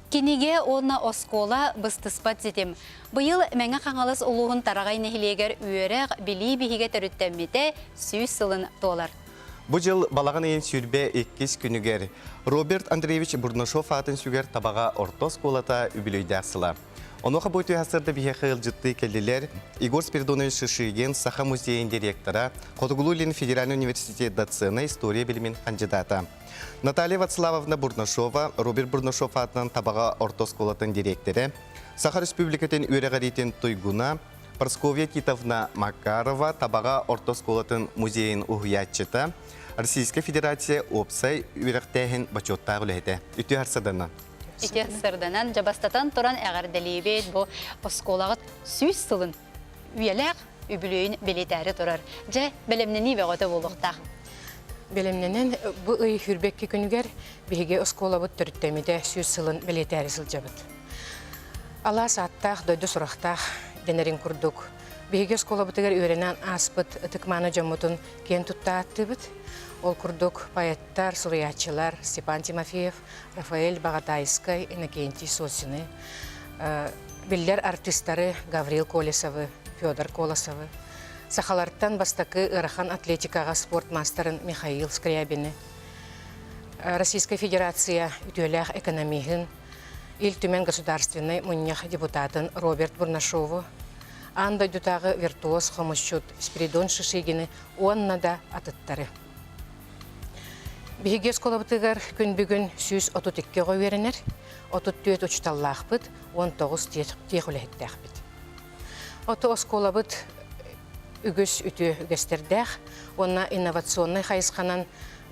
Кинигэ уонна оскуола быстыспат ситим. Быйыл Мэҥэ Хаҥалас улууһун Тараҕай нэһилиэгэр үөрэх, билии биһигэ төрүттэммитэ сүүс сылын туолар. Бу дьыл балаҕан ыйын сүүрбэ иккис күнүгэр Роберт Андреевич Бурнашов аатын сүгэр табаҕа орто оскуолата үбүлүөйдээх сыла. Онуоха бу үтүө сырда биһиэхэ ыалдьыттыы кэллилэр Егор Спиридонович Шишигин, Саха музейын директора, Хотугулуу илин федеральнай университет доцена, история билимин хандьыдаата Наталья Вацлавовна Бурнашова, Роберт Бурнашов аатынан Табаҕа орто оскуолатын директора, Саха Республикатын үөрэҕириитин туйгуна, Прасковья Титовна Макарова, Табаҕа орто оскуолатын музейин уһуйааччыта, Российская Федерация уопсай үөрэхтээһин бочуоттаах үлэһитэ. Үтүө харсаданна. Ити сырданан, дьабастатан туран эҕэрдэлиибит бу оскуолаҕыт сүүс сылын үйэлээх үбүлүөйүн бэлиэтээри турар. Дьэ, бэлэмнэнии бөҕөтө буолуохтаах. Бэлэмнэнэн бу ый хүрбэкки күнүгэр биһиги оскуолабыт төрүттэммитэ сүүс сылын бэлиэтээри сылдьабыт. Алаас ааттаах дойду сурахтаах дэнэрин курдук биһиги оскуолабытыгар үөрэнэн ааспыт ытык-мааны дьоммутун киэн тутта ааттыыбыт. Ол курдук поэттар, суруйааччылар Степан Тимофеев, Рафаэль Баҕатаайскай, Иннокентий Сосины, биллэр артыыстары Гаврил Колесовы, Федор Колосовы, сахалартан бастакы ыарахан атлетикаҕа спорт маастарын Михаил Скрябины, Российскай Федерация үтүөлээх экономиһын, Ил Түмэн Государственнай Мунньах депутатын Роберт Бурнашову, аан дойдутааҕы виртуоз хомусчут Спиридон Шишигины уонна да атыттары. Биһиги оскуолабытыгар күн бүгүн сүүс отут икки оҕо үөрэнэр, отут түөрт учууталлаахпыт, он тоҕус тиэх үлэһиттээхпит. Оту оскуолабыт үгүс үтүө үгэстэрдээх уонна инновационнай хайысханан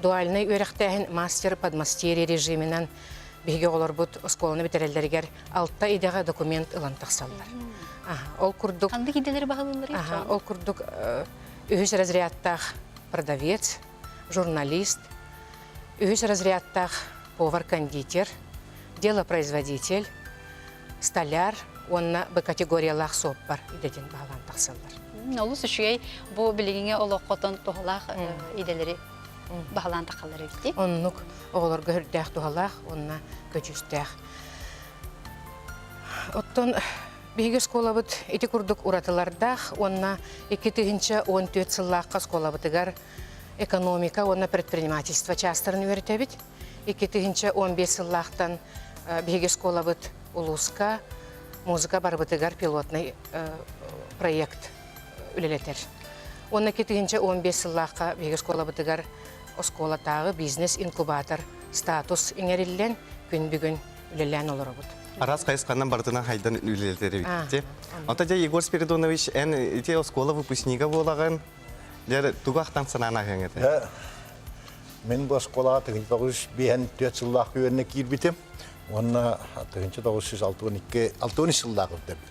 дуальнай үөрэхтээһин мастер подмастерье режиминэн биһиги оҕолорбут оскуоланы бүтэрэллэригэр алта идэҕэ документ ылан тахсаллар. Ол курдук ол курдук үһүс разрядтаах продавец, журналист, үһүс разрядтаах повар-кондитер, делопроизводитель, столяр уонна бу категориялаах суоппар идэтин баһылаан тахсаллар. Олус үчүгэй бу билиҥҥи олоххотун туһалаах идэлэри баһылаан тахаллар эбитий? Оннук. Оҕолорго үрдээх туһалаах уонна көдьүүстээх. Оттон Биһиги оскуолабыт ити курдук уратылардаах уонна икки тыһыынча уон түөрт сыллаахха оскуолабытыгар экономика уонна предпринимательство чаастарын үөрэтэбит. Икки тыһыынча уон биэс сыллаахтан биһиги оскуолабыт улууска музыка барыбытыгар пилотный проект үлэлэтэр. Уонна икки тыһыынча уон биэс сыллаахха биһиги оскуолабытыгар оскуолатааҕы бизнес-инкубатор статус иҥэриллэн күн бүгүн үлэлээн олоробут. Араас хайысханан барытынан хайдан үлэлэтери битти. Ота дьэ Егор Спиридонович, эн ити оскуола выпускнига буолагын, дьэр тугу ахтан санаан ахыңыта? Мен бу оскуолаға тігінші 1904 жыллақ үйеріне киірбітім. Онна тігінші 1962 6 жыллақ үрдебіт.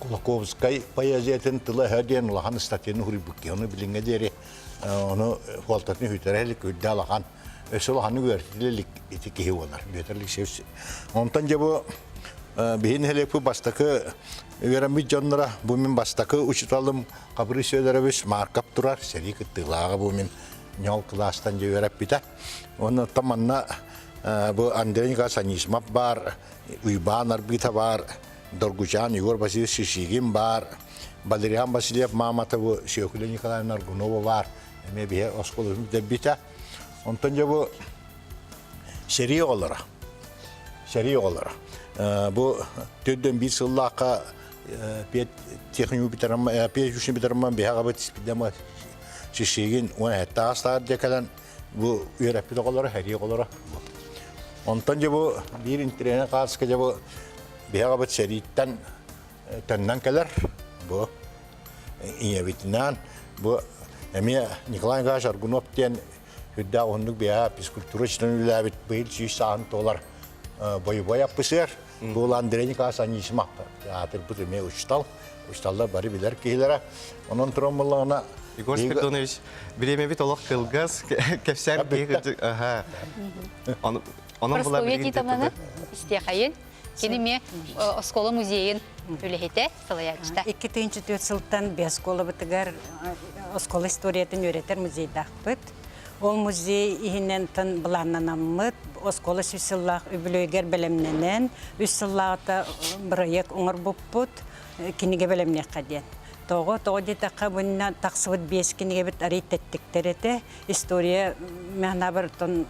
Кулаковскай поэзиятын тыла-өһө диэн улахан статьяны суруйбуттаһыны билиҥҥэ диэри ону фуолтатын үһүтэрэ илик үрдэ алахан өссө улаханнык үөрэтилэ илик ити киһи буолар Петр Алексеевич. Онтон дьэ бу биһи нэһилиэкпит бастакы үөрэммит дьоннора бу мин бастакы учиталым Хабыры Сөдөрөбүс Марков турар сэрии кыттыылааҕа бу мин ньол кылаастан дьэ үөрэппитэ. Онуттан манна бу Андрей Николаевич Анисимов баар Уйбаан Арбыта баар, Доргучан Егор Васильевич Шишигин баар, Валериан Васильев Мааматову, Сүөкүлэ Николаевна Аргунова баар, эмиэ биһи оскуола бүтэрбитэ. Онтон дьэ бу сэрии оҕолоро. Сэрии оҕолоро. Бу төрдөн биир сыллаахха техникум бүтэрэммин, пеш бүтэрэммин биһэҕэбит демо Шишигин уон эһэттээх саар кэлэн бу үөрэппит оҕолоро, эрии оҕолоро. Онтон дьэ бу биир интириэһинэй кааска дьэ бу биһэҕэбит сэрииттэн төннөн кэлэр. Бу ийэбитинээн бу эмиэ Николай Николаевич Аргунов диэн үрдээх уһуннук биһэ физкультура учетын үлээбит быйыл сүүс сааһын туолар бойобуой аппысыар Ол Андрей Николаевич Анисимовтар аатырбыт эмиэ учуттал. Учутталлар бары билэр киһилэрэ. Онон туран буллаҕына Егор Спиридонович, бремябит олох кылгас, кэпсээн биһи кырдьык, аха. Онон булар Республика титаманы истиэхэйин. Кини эмиэ оскуола музейын үлэһитэ. салайааччыта. Икки тыһыынча түөрт сылтан биоскуолабытыгар оскуола историятын үөрэтэр музейдаахпыт. Ол музей иһинэн тын былааннанаммыт, оскуола сүүс сыллаах үбүлүөйгэр бэлэмнэнэн, үс сыллааҕыта бырайыак оҥорбуппут, кинигэ бэлэмниэххэ диэн. Тоҕо, тоҕо диэтэххэ, бунна тахсыбыт биэс кинигэбит арыый тэттиктэр этэ. история мянабартон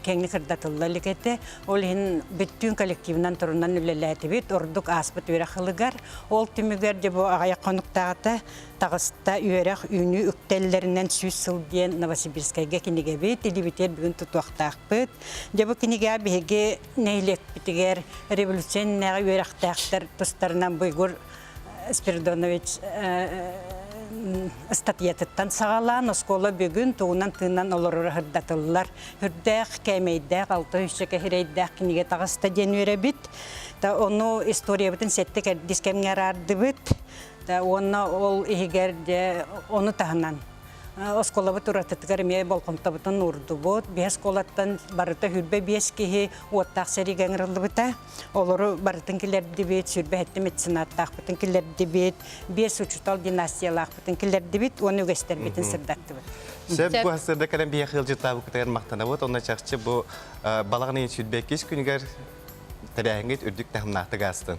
кеңи сырдатылла илик этэ. Ол иһин бүттүүн коллективынан турунан үлэлээтибит. Ордук ааспыт үөрэх хылыгар. Ол түмүгэр дьэ бу аҕай хонуктаата таҕыста үөрэх үүнүү үктэллэринэн сүүс сыл диэн Новосибирскайга кинигэбит илибитигэр бүгүн тутуохтаахпыт. Дьэ бу кинигэ биһиги нэһилиэкпитигэр революционнайга үөрэхтээхтэр тустарынан буйгур Спиридонович ыстатыйатыттан саҕалаан оскуола бүгүн тугунан тыынан олороро сырдатыллар. Үрдээх, кээмэйдээх, алта үсчэ кэһирэйдээх кинигэ таҕыста диэн үөрэбит. Ону историябытын сэттэ кэрдис кэмҥэ араардыбыт. Уонна ол иһигэр дьэ ону таһынан оскуолабыт уратытыгар эмиэ болҕомтобутун уурдубут. Биһи оскуолаттан барыта сүүрбэ биэс киһи уоттаах сэриигэ ыҥырыллыбыта. Олору барытын килэрдибит, сүрбэһиттэ меценаттаахпытын килэрдибит, биэс учутал династиялаахпытын килэрдибит уонна үгэстэрбитин сырдаттыбыт. Сөп бу сырда кэлэн биһиэхэ ыалдьыттаабыккытыгар махтанабыт. Онно чахчы бу балаҕан ыйын сүүрбэ иккис күнүгэр тэрээһиҥҥит үрдүк таһымнаахтык аастын.